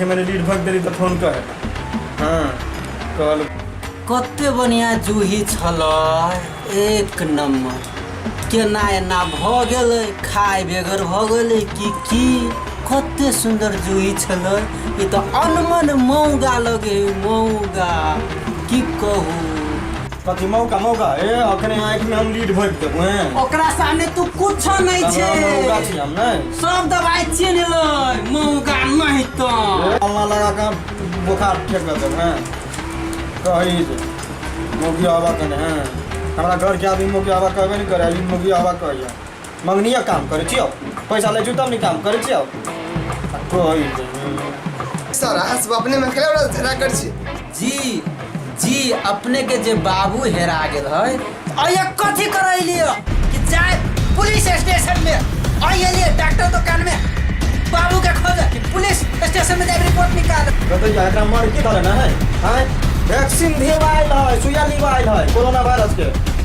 मैंने रीड भग देली तो फोन कर हाँ कॉल कते बढ़िया जूही छल एक नंबर केना एना भ गेल खाय बेगर भ गेल कि की कते सुंदर जूही छल ई तो अनमन मौगा लगे मौगा की कहू कथी मौका मौका ए अखने आँखि में हम लीड भरि देबो हैं ओकरा सामने तू कुछो नहीं हमरा मौका छे छी हम नहीं सब दवाई छीन लो मौका नहीं तो अल्लाह लगा के हम बोखार ठीक कर देबो हैं कही जे मौगी आवा कने हैं हमरा घर के आदमी मौगी आवा कहबे नहीं करे ई मौगी आवा कहिया मंगनिया काम करे छियो पैसा ले जुतम नहीं काम करे छियो आ कोई नहीं। सर अहाँ सब अपने में केना ओकरा झगड़ा करै छी जी जी अपने के जे बाबू हेरा गेल है अये कथी करे लिए कि जाए पुलिस स्टेशन में अये लिए डॉक्टर दुकान में बाबू के खोज कि पुलिस स्टेशन में जाए रिपोर्ट निकाल कहते जा एकरा मर के धरे ना है हैं वैक्सीन दिए आइल है सुइया लिवा आइल है कोरोना वायरस के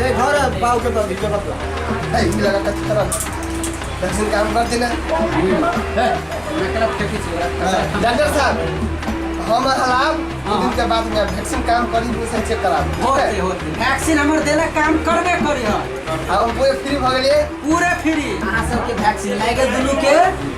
रे घर पाउ के बाबी के बाबी ए ई लगा का चित्रा दर्शन काम कर देना है नकरा फेंकी छोरा डॉक्टर साहब हम हलाब दो दिन के बाद में वैक्सीन काम करी दो से चेक करा होते होते वैक्सीन हमर देला काम करबे करी ह अब पूरे फ्री भ गेलिए पूरे फ्री अहाँ सबके वैक्सीन लागे दुनू के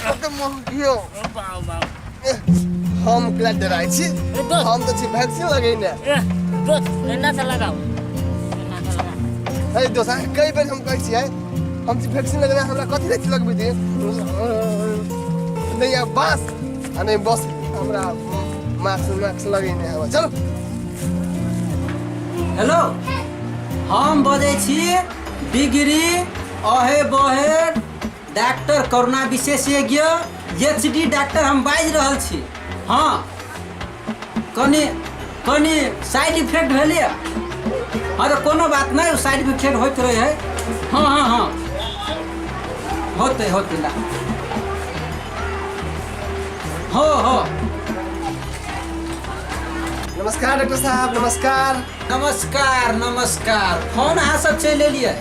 कते मोह कियो बाबा बाबा हम ओकरा डराइ छी हम तऽ छी वैक्सीन लगेने दोस्त एना से लगाओ एना से लगाओ अरे दोस्त अहाँ कई बेर हम कहै छियै हम छी वैक्सीन लगेने हमरा कथी लए लगबै दिए नहि आ बास आ नहि बस हमरा मास्क मास्क लगेने हवा चलो हेलो हम बजै छी डिग्री अहे बहे डाक्टर करुणा विशेषज्ञ एच डी डाक्टर हम बाजि रहल छी हँ कनि कनि साइड इफेक्ट भेलै हँ तऽ कोनो बात नहि साइड इफेक्ट होइत रहै है हँ हँ हँ होतै होतै ला हो हो नमस्कार डॉक्टर साहब नमस्कार नमस्कार नमस्कार फोन अहाँ सब चलि एलियै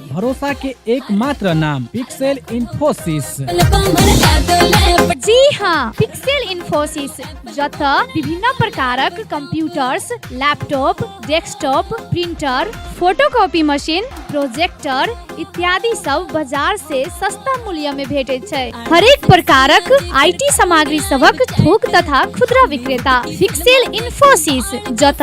भरोसा के एकमात्र नाम पिक्सेल इन्फोसिस जी हाँ पिक्सेल इन्फोसिस जत विभिन्न प्रकारक computers laptop desktop printer photocopy machine projector इत्यादि सब बाजार से सस्ता मूल्य में भेटे छै हरेक प्रकारक आईटी सामग्री सबक थोक तथा खुदरा विक्रेता पिक्सेल इन्फोसिस जत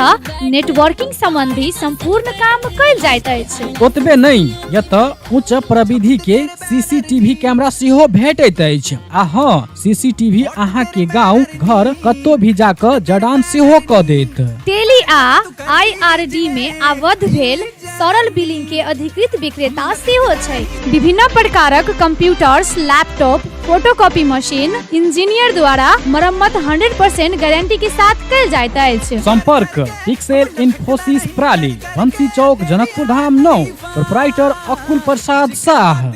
नेटवर्किंग संबंधी संपूर्ण काम कयल जाइत अछि ओतबे नहि एतय उच्च प्रविधि के सीसीटीवी कैमरा सेहो भेटैत अछि आ हँ सीसीटीवी अहाँ के गांव घर कतौ भी जाकर जडान सेहो क देत टेली आ आईआरडी में आबद्ध भेल तरल बिलिंग के अधिकृत विक्रेता सेहो छै विभिन्न प्रकारक computers laptop photocopy machine engineer द्वारा मरम्मत 100% गारंटी के साथ कल जाइत अछि संपर्क पिक्सेल इन्फोसिस प्राली बंसी चौक जनकपुर धाम नौ प्रोपराइटर अकुल प्रसाद शाह